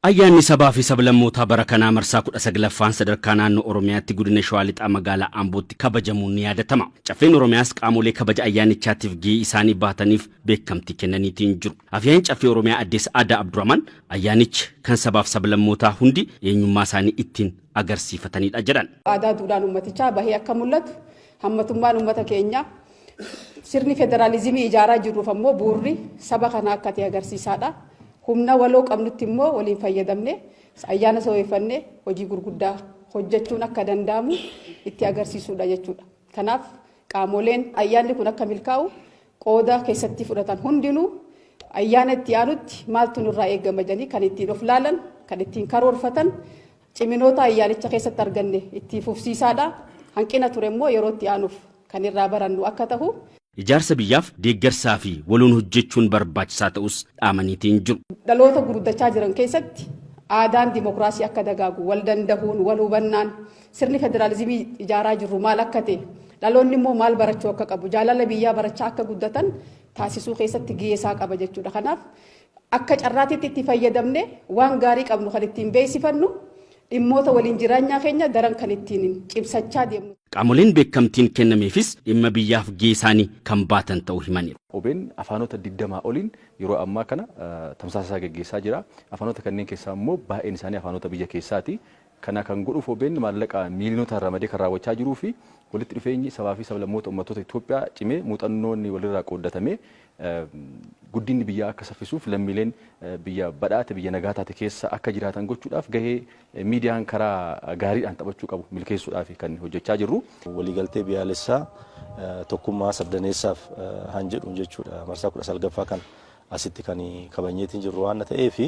Ayyaanni Sabaa fi Sablammootaa bara kanaa marsaa 19ffaan sadarkaa naannoo Oromiyaatti Godina Shawaa Lixaa Magaalaa Ambootti kabajamuun ni yaadatama. Caffeen Oromiyaas qaamolee kabaja ayyaanichaatiif gahee isaanii bahataniif beekamtii kennaniitiin jiru. Afyaa'iin Caffee Oromiyaa Addee Sa'aadaa Abdurahmaan ayyaanichi kan sabaaf sablammootaa hundi eenyummaa isaanii ittiin agarsiifatanidha jedhan. Aadaa duudhaan uummatichaa bahee akka mul'atu Hammatummaan uummata keenyaa sirni federaalizimii ijaaraa jirruuf ammoo bu'urri saba kanaa akka ta'e agarsiisaadha. Humna waloo qabnutti immoo waliin fayyadamne ayyaana saweeffanne hojii gurguddaa hojjechuun akka danda'amu itti agarsiisuudha jechuudha. Kanaaf qaamoleen ayyaanni kun akka milkaa'u qooda keessatti fudhatan hundinuu ayyaana itti aanutti maaltu nurraa eegama jedhanii kan ittiin of laalan kan ittiin karoorfatan Ciminoota ayyaanicha keessatti arganne itti fufsiisaadha. Hanqina ture immoo yeroo itti aanuuf kan irraa barannu akka tahu. Ijaarsa biyyaaf deeggarsaa fi waloon hojjechuun barbaachisaa ta'uus dhaamaniitiin jiru. Dhaloota guddachaa jiran keessatti aadaan dimokiraasii akka dagaagu, wal dandahuun, wal hubannaan, sirni federaalizimii ijaaraa jirru maal akka ta'e, dhaloonni immoo maal barachuu akka qabu, jaalala biyyaa barachaa akka guddatan taasisuu keessatti gahee isaa qaba jechuudha. Kanaaf Akka carraatiitti itti fayyadamnee waan gaarii qabnu kan ittiin beeksifannu, dhimmoota waliin jiraanyaa keenya daran kan ittiin cimsachaa deemnu. Qaamoleen beekamtiin kennameefis dhimma biyyaaf gahee isaanii kan baatan ta'uu himaniiru. Obn afaanota 20 oliin yeroo ammaa kana tamsaasa isaa geggeessaa jira. Afaanota kanneen keessaa immoo baay'een isaanii afaanota biyya keessaati. Kana kan godhuuf obn maallaqa miiliyonotaan ramadee kan raawwachaa jiruu fi walitti dhufeenyi sabaa fi sablammoota ummattoota Itoophiyaa cimee muuxannoon walirraa qooddatamee guddinni biyyaa akka saffisuuf lammiileen biyya badhaate biyya nagaa taate keessa akka jiraatan gochuudhaaf gahee miidiyaan karaa gaariidhaan taphachuu qabu milkeessuudhaafi kan hojjechaa jirru. Waliigaltee biyaalessaa tokkummaa sabdaneessaaf han jedhuun jechuudha marsaa 19ffaa kana Asitti kan kabajneetiin jirru waan ta'eef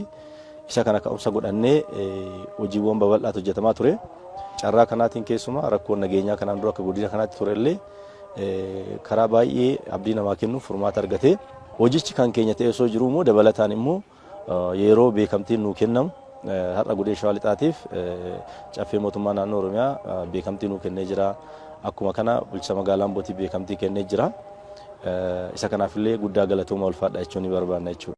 isa kana ka'umsa godhannee hojiiwwan babal'aatu hojjetamaa ture. Carraa kanaatiin keessumaa rakkoon nageenyaa kanaan dura akka godina kanaatti ture illee karaa baay'ee abdii namaa kennuuf furmaata argate. Hojichi kan keenya ta'ee osoo jiruu immoo dabalataan immoo yeroo beekamtiin nuu kennamu Har'a Godina Shawaa Lixaatiif Caffee Mootummaa Naannoo Oromiyaa beekamtii nuu kennee jira. Akkuma kana bulchiinsa magaalaa Ambootiif beekamtii kennee jira. Isa kanaaf illee guddaa galatoomaa ulfaadhaa jechuu ni barbaanna jechuudha.